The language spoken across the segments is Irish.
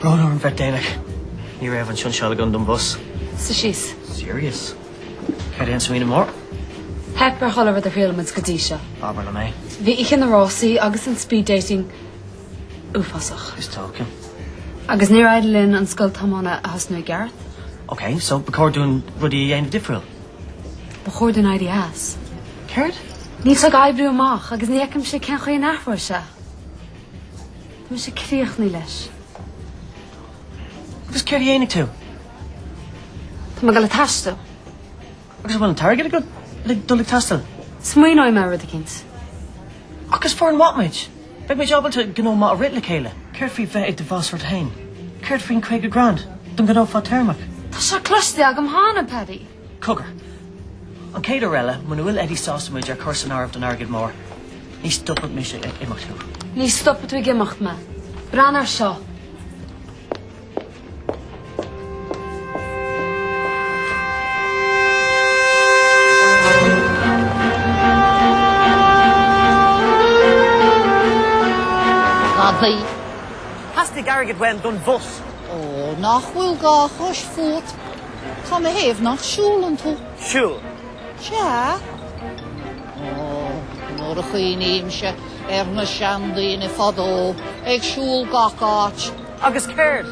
Brón orm bheith déanach. Ní raibh an tseansáil i gcónaí don bus. Suigh síos. Serious. Cad é an smaoineamh mór? Theip ar chuile rud a thriail muid go dtí seo. Abair liom é. Bhí oíche na rásaí agus an speed dating uafásach. Is dóiche. Agus níor fhéad linn an scoil tiomána a thosnú i gceart. Ok, so ba chóir dúinn rudaí a dhéanamh difriúil? Ba chóir dúinn éirí as. Céard? Níl sé ag oibriú amach agus ní fheicimse cén chaoi a n-athróidh sé. Tá mé críochnaithe leis. Agus céard a dhéanfaidh tú? Tá mé ag dul ag taisteal. Agus an bhfuil an t-airgead agat le dul ag taisteal? Smaoineoidh mé ar rud eicínt. Agus is foireann mhaith muid. Beidh muid ábalta gnó maith a rith le chéile. Céard faoi bheith i do bhas ort féin? Céard faoin caoga grand don ghnó fadtéarmach? Tá sé cloiste agam cheana, Paddy. Cogar. An chéad uair eile, muna bhfuil Eddie sásta muid a chur san áireamh don airgead mór, ní stopfaidh mise ag imeacht thú. Ní stopfaidh tú ag imeacht mé. Breathnaigh air seo. Gadaí. Theastaigh airgead uaim don bhus. Ó, nach bhfuil dhá chois fút. Cén chaoi, nach siúlann tú? Siúl. Sea. Ó, nuair a chuimhnímse ar na seandaoine fadó ag siúl gach áit. Agus céard?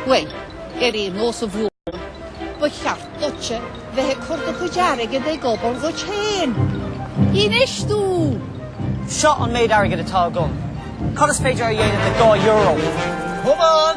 Bhuel, ar aon nós a Bhrú, ba cheart duitse bheith ag cur do chuid airgid ag obair dhuit féin. Infheistiú! Seo an méid airgid atá agam. Cad is féidir a dhéanamh le dhá euro? Come on!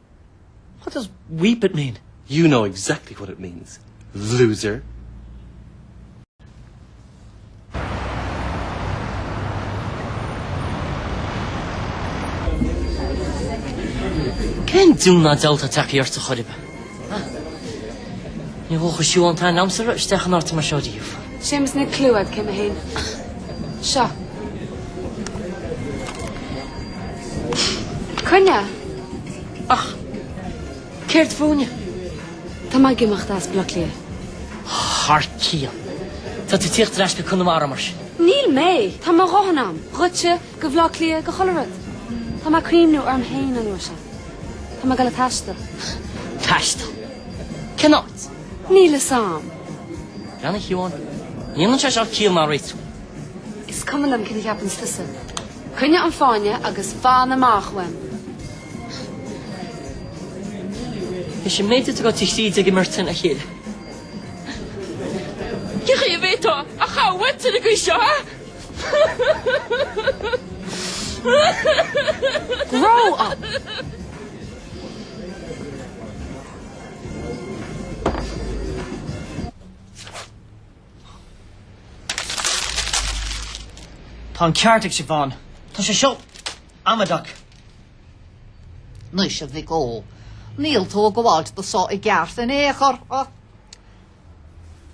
What does weep it mean? You know exactly what it means, loser! Cén diabhal ná diabhal atá tagtha ort, a Choiribe? Ní dócha gur shiúil an t-aon am sa raibh isteach in áit mar seo riamh. Séamus, ná clúdaigh é. Cé mb'ann seo? Coinnigh, Ach céard fúinne? Tá mé ag imeacht as Bleá Cliath. Thar cionn. Tá tú ag teacht ar ais go Conamara mar sin. Níl mé! Tá mo dhóthain agam dhíotsa, go Bhleá Cliath, go chuile rud. Tá mé ag cuimhniú orm féin an uair seo. Tá mé ag dul ag taisteal. Taisteal? Cén áit? Níl fhios a'm. Bean a Sheáin, ní dhéanann sé seo ciall ar bith. Is cuma liom céard a cheapanns tusa. Coinnigh an fáinne agus fan amach uaim. Is sin méid duit go dtí thríd ag imeacht a chill. Cé hé a bheidh tú a chabhairt ar an gcaoi seo, ha? Grow up! Tá an ceart ag Siobhán. Tá sé seo amaideach. Anois a mhic ó, níl tú ag gabháilt do so i gceart in aon chor ach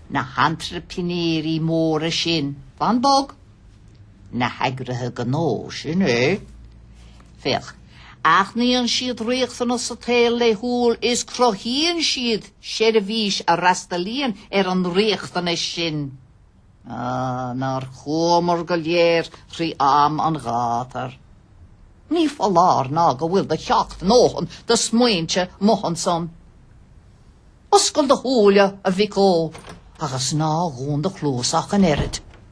na hantraiprinéirí móra sin. Fan bog. na heagraithe gnó, sin é, féach, aithníonn siad riachtanas sa tsaol laethúil is cruthaíonn siad seirbhís a fhreastalaíonn ar an riachtanas sin. Á, nár chuamar go léir thrí am an ghátair! Ní foláir nó go bhfuil do sheacht ndóthain de smaointe amuigh ansan. Oscail do shúile, a mhic ó, agus ná dhún do chluas ach an oiread.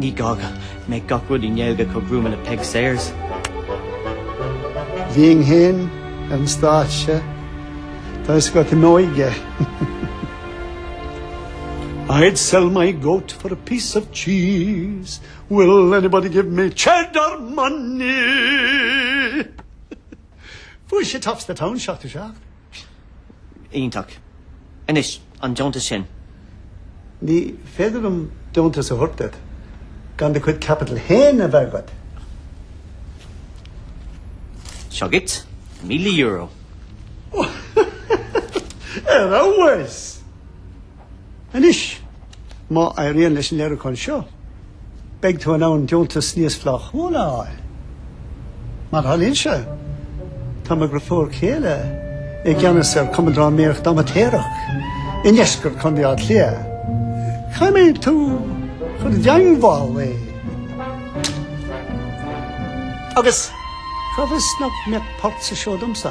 Ní gá go mbeidh gach rud i nGaeilge chomh gruama le Peig Sayers. Bhínn féin ar an stáitse seo toisc go raibh mé i m'óige. I'd sell my goat for a piece of cheese, will anybody give me cheddar money? Fuair sé Tops the Town 77. Iontach. Anois, an deontas sin. Ní féidir liom deontas a thabhairt duit gan do chuid caipitil féin a bheith agat. Seo dhuit, míle euro. Ar fheabhas! Anois, má éiríonn leis an léiriúchán seo, beidh tú in ann deontas níos flaithiúla a fháil. Mar a tharlaíonn sé, tá m'iarfhear céile i gceannas ar Cumann Drámaíochta Amaitéarach i ndeisceart Chontae Átha Cliath. Caithfidh tú dul i dteagmháil leis agus cá bhfios nach mbeadh páirt sa seó domsa.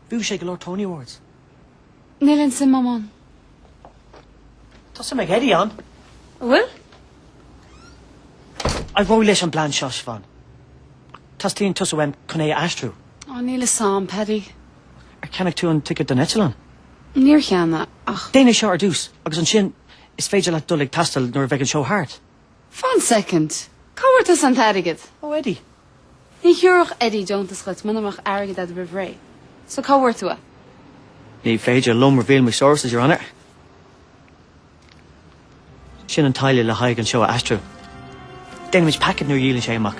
Bhuaigh sé go leor Tony Awards. Níl aon suim agam ann. Tá suim ag Eddie ann. An bhfuil? Éireoidh leis an bplean seo, Siobhán. Teastaíonn tusa uaim chun é a aistriú. Á, níl fhios a'm, Paddy. Ar cheannaigh tú an ticket don eitleán? Níor cheannaigh. Déanfaidh seo ar dtús, agus ansin is féidir leat dul ag taisteal nuair a bheidh an seó thart. Fan soicind. Cá bhfuair tusa an t-airgead? Ó Eddie. Ní thiúrfadh Eddie deontas dhuit muna mbeadh airgead agat roimh ré. So cá bhfuair tú é? Ní féidir liom reveal my sources, a Onóir. Sin an táille le haghaidh an seó a aistriú. Déanaimid paicéad nuair a dhíolann sé amach.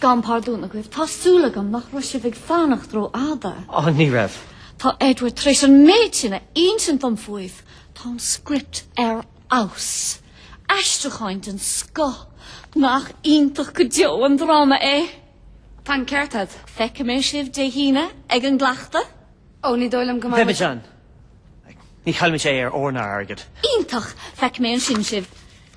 Gabhaim pardún agaibh, tá súil agam nach raibh sibh ag fanacht ró fhada. Á, ní raibh. Tá Edward tar éis an méid sin a insint dom faoibh. Tá an script ar fheabhas. Aistriúcháin den scoth. Nach iontach go deo an dráma é? Tá an ceart agat. Feicfimid sibh Dé hAoine ag an gcleachtadh? Ó, ní dóigh liom go mbeidh muid. Beimid ann. Ní chaillfimid é ar ór ná airgead. Iontach! Feicfidh mé ansin sibh.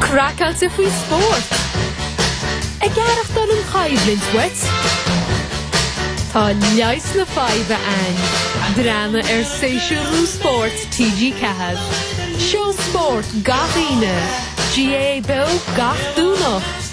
Craiceáilte faoi spórt! Ag aireachtáil an chaill dhuit? Tá leigheas na faidhbe againn. Dréan ar shéasúr úr spóirt TG4. Seó spóirt gach Aoine, GAA beo gach Domhnach.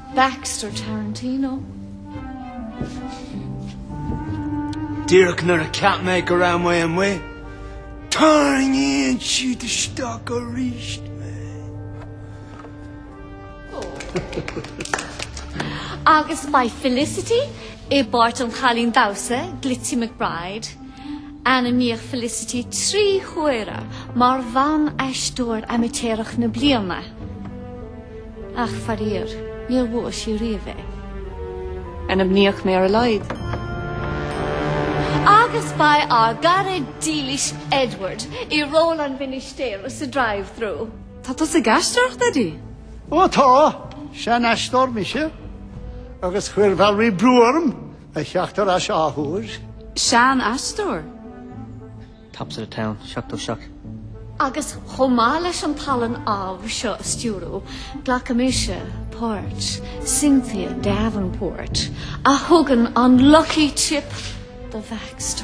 Baxter Tarantino. Díreach nuair a cheap mé go raibh mé amuigh, tarraingíonn siad isteach arís mé. Agus My Felicity i bpáirt an chailín damhsa Glitty McBride. Ainmníodh Felicity trí huaire mar Bhan-Aisteoir Aimitéireach na Bliana, ach faraor, níor bhuaigh sí riamh é. Ainmníodh mé ar a laghad! Agus beidh ár gcara dílis Edward i ról an Mhinistéara sa Drive-Thru. Tá tusa ag aisteoireacht, Eddie? Ó tá! Sean-aisteoir mise, agus chuir Valerie brú orm! a theacht ar ais athuair. Sean aisteoir. Tops of the Town, seachtó seacht. Agus chomh maith leis an tallann amh seo a stiúradh, glacfaidh mise páirt Cynthia Davenport a thugann an 'lucky tip' do Baxter.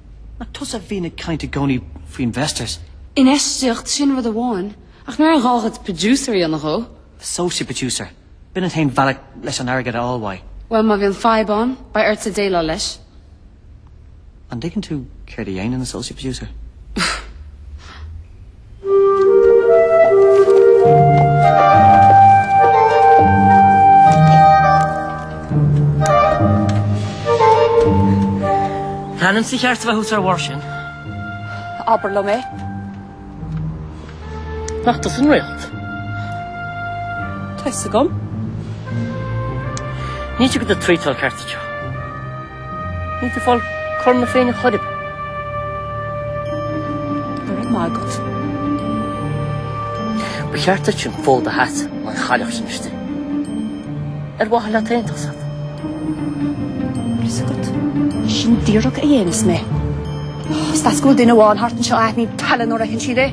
Ach tusa a bhíonn ag caint i gcónaí faoi investors. Infheistíocht, sin rud amháin, ach ní raibh aon ghá dhuit producer a dhéanamh dhó. Associate producer. B'in an t-aon bhealach leis an airgead a fháil uaidh. Bhuel, má bhíonn fadhb ann, beidh ortsa déileáil leis. An dtuigeann tú céard a dhéanann associate producer? Tá m'ainmsa ceart a bheith thuas ar bharr sin. Abair liom é. Nach tusa an réalt? Tá a fhios agam. Níl siad do do thraeiteáil ceart anseo. Ní tú fáil corna féin a choirib. Go raibh maith agat. Ba cheart duit an fód a hait in an chailleach sin istigh. Ar mhaith leat aontacht sa? Bhfuil fhios agat. Sin díreach a dhéanfas mé. Is deas go bhfuil duine amháin thart anseo a aithníonn tallann nuair a fheiceann siad é.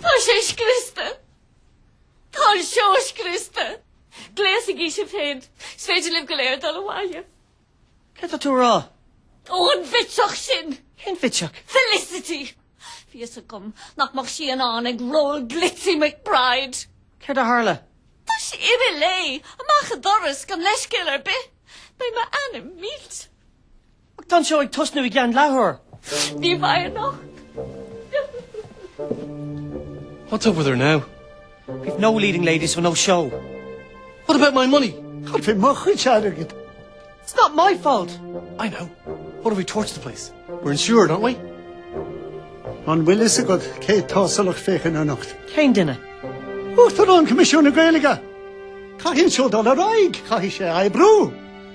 Tá sé scriosta. Tá an seó scriosta. Gléasaigí sibh féin. Is féidir libh go léir dul abhaile. Céard atá tú a rá? Ó, an bhitseach sin! Cén bhitseach? Felicity! Bhí fhios agam nach mbeadh sí in ann ag ról Glitzy McBride. Céard a tharla? Tá sí imithe léi, amach an doras, gan leithscéal ar bith. Beidh m'ainm millte. Ach tá an seó ag tosnú i gceann leathuair. Ní bheidh anocht. What's up with her now? We've no leading lady so no show. What about my money? Cad faoi mo chuid airgid? It's not my fault! I know. What if we torch the place? We're insured, aren't we? An bhfuil fhios agat cé atá sa lucht féachana anocht? Cén duine? Uachtarán Choimisiún na Gaeilge! Caithfidh an seó dul ar aghaidh! Caithfidh sé a oibriú!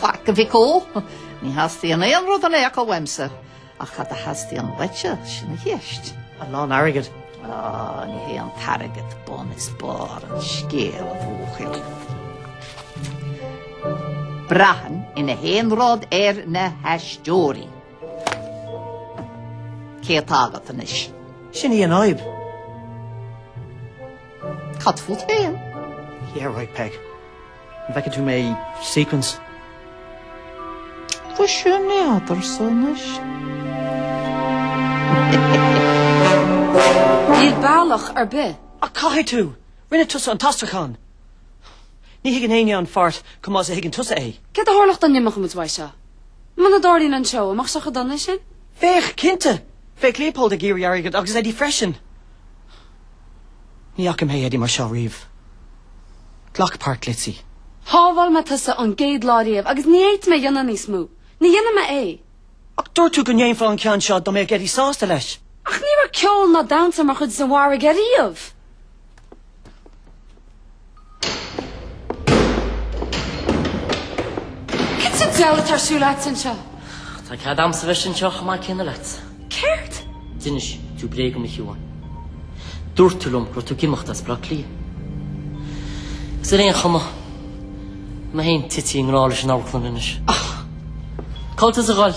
Faic a mhic ó! Ní theastaíonn aon rud in aon chor uaimse, ach cad a theastaíonn uaitse, sin an cheist. A lán airgid? Á, ní hé an t-airgead bun is barr an scéil, a bhuachaill. Braitheann gach aon rud ar na haisteoirí. Cé atá agat anois? Sin í an fhadhb. Cad fút féin? Yeah, right Peg. An bhfeiceann tú mé i sequins? Tá sé an eadar so anois. Níl bealach ar bith. Ach caithfidh tú! Rinne tusa an t-aistriúchán! Ní thuigeann éinne an pháirt chomh maith is a thuigeann tusa é. Céard a tharlódh dá n-imeodh muid uaidh seo? Muna dtarlaíonn an seó an mbeadh sé chomh dona sin? Bheadh, cinnte! Bheadh Leopold ag iarraidh airgead agus Eddie freisin! Ní fhaca mé Eddie mar seo riamh. Glac páirt Glitzy. Shábháil mé tusa ón gcéad lá riamh agus ní fhéadfaidh mé a dhéanamh níos mó. Ní dhéanfaidh mé é. Ach dúirt tú go ndéanfá an ceann seo dá mbeadh Eddie sásta leis. Ach ní raibh ceol ná damhsa mar chuid den mhargadh riamh. Cad sa diabhal atá ar siúl agat anseo? Tá cead a'msa bheith anseo chomh maith céanna leat. Céard? D'inis tú bréag dhom, a Shiobháin. Dúirt tú liom go raibh tú ag imeacht as Bleá Cliath. Is ar aon chuma, tá mé féin tite i ngrá leis an amharclann anois. Cá bhfuil tusa ag dul?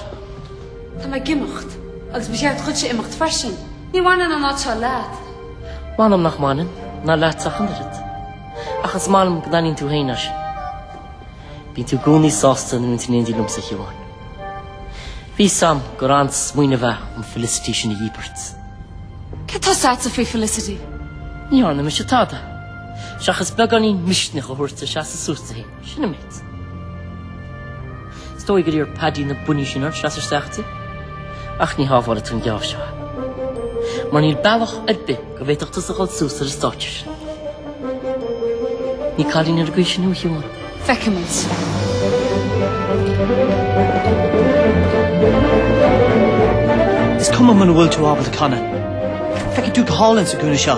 Tá mé ag imeacht, agus ba cheart duitse imeacht freisin. Ní bhaineann an áit seo leat. M'anam nach mbaineann, ná leatsa ach an oiread. Ach is maith liom go n-aithníonn tú féin é sin. Bíonn tú i gcónaí sásta nuair a bhíonn tú in éindí liomsa, a Shiobháin. Bhí a fhios a'm gur an-smaoineamh é an Felicity sin a dhíbirt. Cé atá sásta faoi Felicity? Ní dhearna mise tada, seachas beagáinín misnigh a thabhairt di seasamh suas di féin. Sin an méid. Is dóigh gur iarr Paddy na buinní sin ort seas isteach di. Ach ní tábhachtach atá an geábh seo ann. Mar níl bealach ar bith go bhféadfadh tusa a dhul suas ar an stáitse sin. Ní cailín ar an gcaoi sin a bhfeicfidh mé. Feicimid. Is cuma muna bhfuil tú ábalta canadh. Feicfidh tú go hálainn sa gcúinne seo.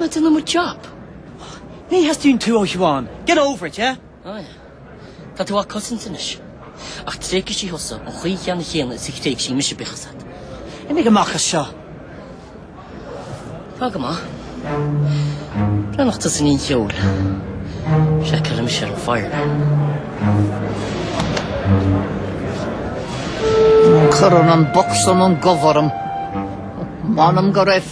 Ná déan mo job! Ní theastaíonn tú ó Shiobhán! Get over it, yeah? Á é. Tá tú á cosaint anois. Ach tréigfidh sí thusa an chaoi cheannann chéanna is a thréig sí mise bíodh as at. Imigh amach as seo! Tá go maith. Breathnaigh tusa in incheol. Sea, ceiliúr mise ar an fire. Cuireann an box an an gobh orm. M'anam go raibh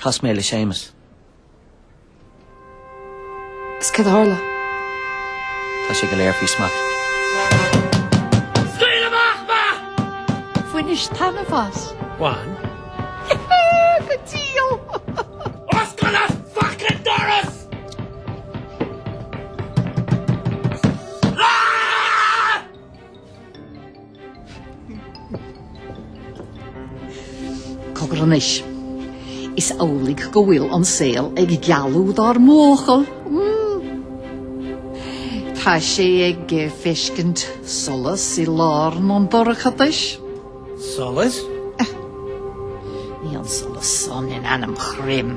Chas mé le Séamus. Is cad a tharla? Tá sé go léir faoi smacht. Scaoil amach mé! Bhainis taitneamh as. Bhain. Go diail! Oscail an fucking doras! Ahh! Cogar anois. Is amhlaidh go bhfuil an saol ag gealú dár mbuachaill. Tá sé ag feiscint solas i lár an dorchadais. Solas? Ní haon solas san in ainm Chroim.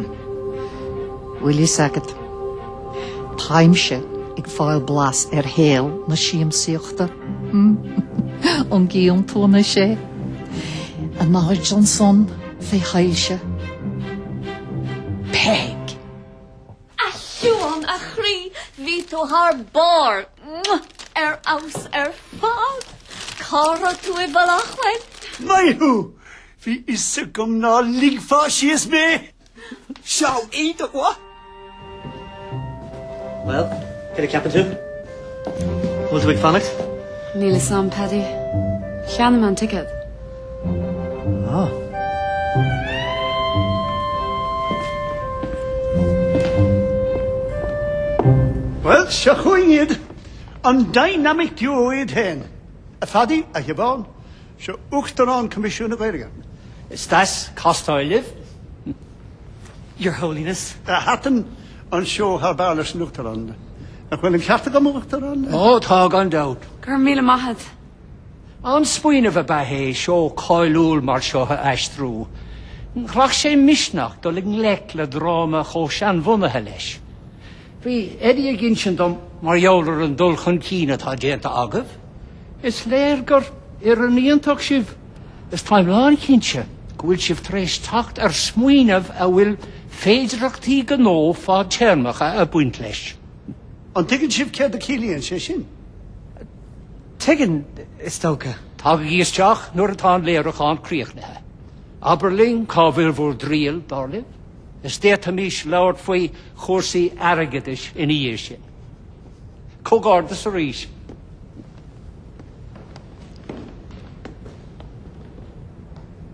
Bhfuil fhios agat, táimse ag fáil blas ar shaol na siamsaíochta. An gcíonn tú anois é? A Nigel Johnson fé shoilse. Peg! A Sheoin, a chroí, bhí tú thar barr ar fheabhas ar fad. Cá raibh tú i mBaile Átha Cliath? Maith thú! Bhí fhios agam ná ligfeá síos mé! Seo é do ghuth! Bhuel, cad a cheapann tú? An bhfuil tú ag fanacht? Níl fhios a'm, Paddy. Cheannaigh mé an ticéad. Bhuel, seo chugainn iad, an dynamic duo iad féin, a Phaddy, a Shiobhán, seo Uachtarán Coimisiún na Gaeilge. Is deas castáil leat, Your Holiness. Thaitin an seó thar barr leis an Uachtarán. Nach bhfuil an ceart agam, a Uachtaráin? Ó, tá gan dabht. Go raibh míle maith a't. An-smaoineamh ab ea é seó cáiliúil mar seo a aistriú. Ghlac sé misneach dul i ngleic le dráma chomh seanbhunaithe leis. Bhí Eddie ag insint dom mar gheall ar an dul chun cinn atá déanta agaibh. Is léir gur foireann iontach sibh is táim lán chinnte go bhfuil sibh tar éis teacht ar smaoineamh a bhfuil féidearthachtaí gnó fadtéarmacha ag baint leis. An dtuigeann sibh céard a chiallaíonn sé sin? Tuigeann, is dócha. Tagaigí isteach nuair atá an léiriúchán críochnaithe. Abair linn cá bhfuil bhur dtriall, dar libh, is d'fhéadfaimis labhairt faoi chúrsaí airgeadais ina dhiaidh sin. Comhghairdeas arís.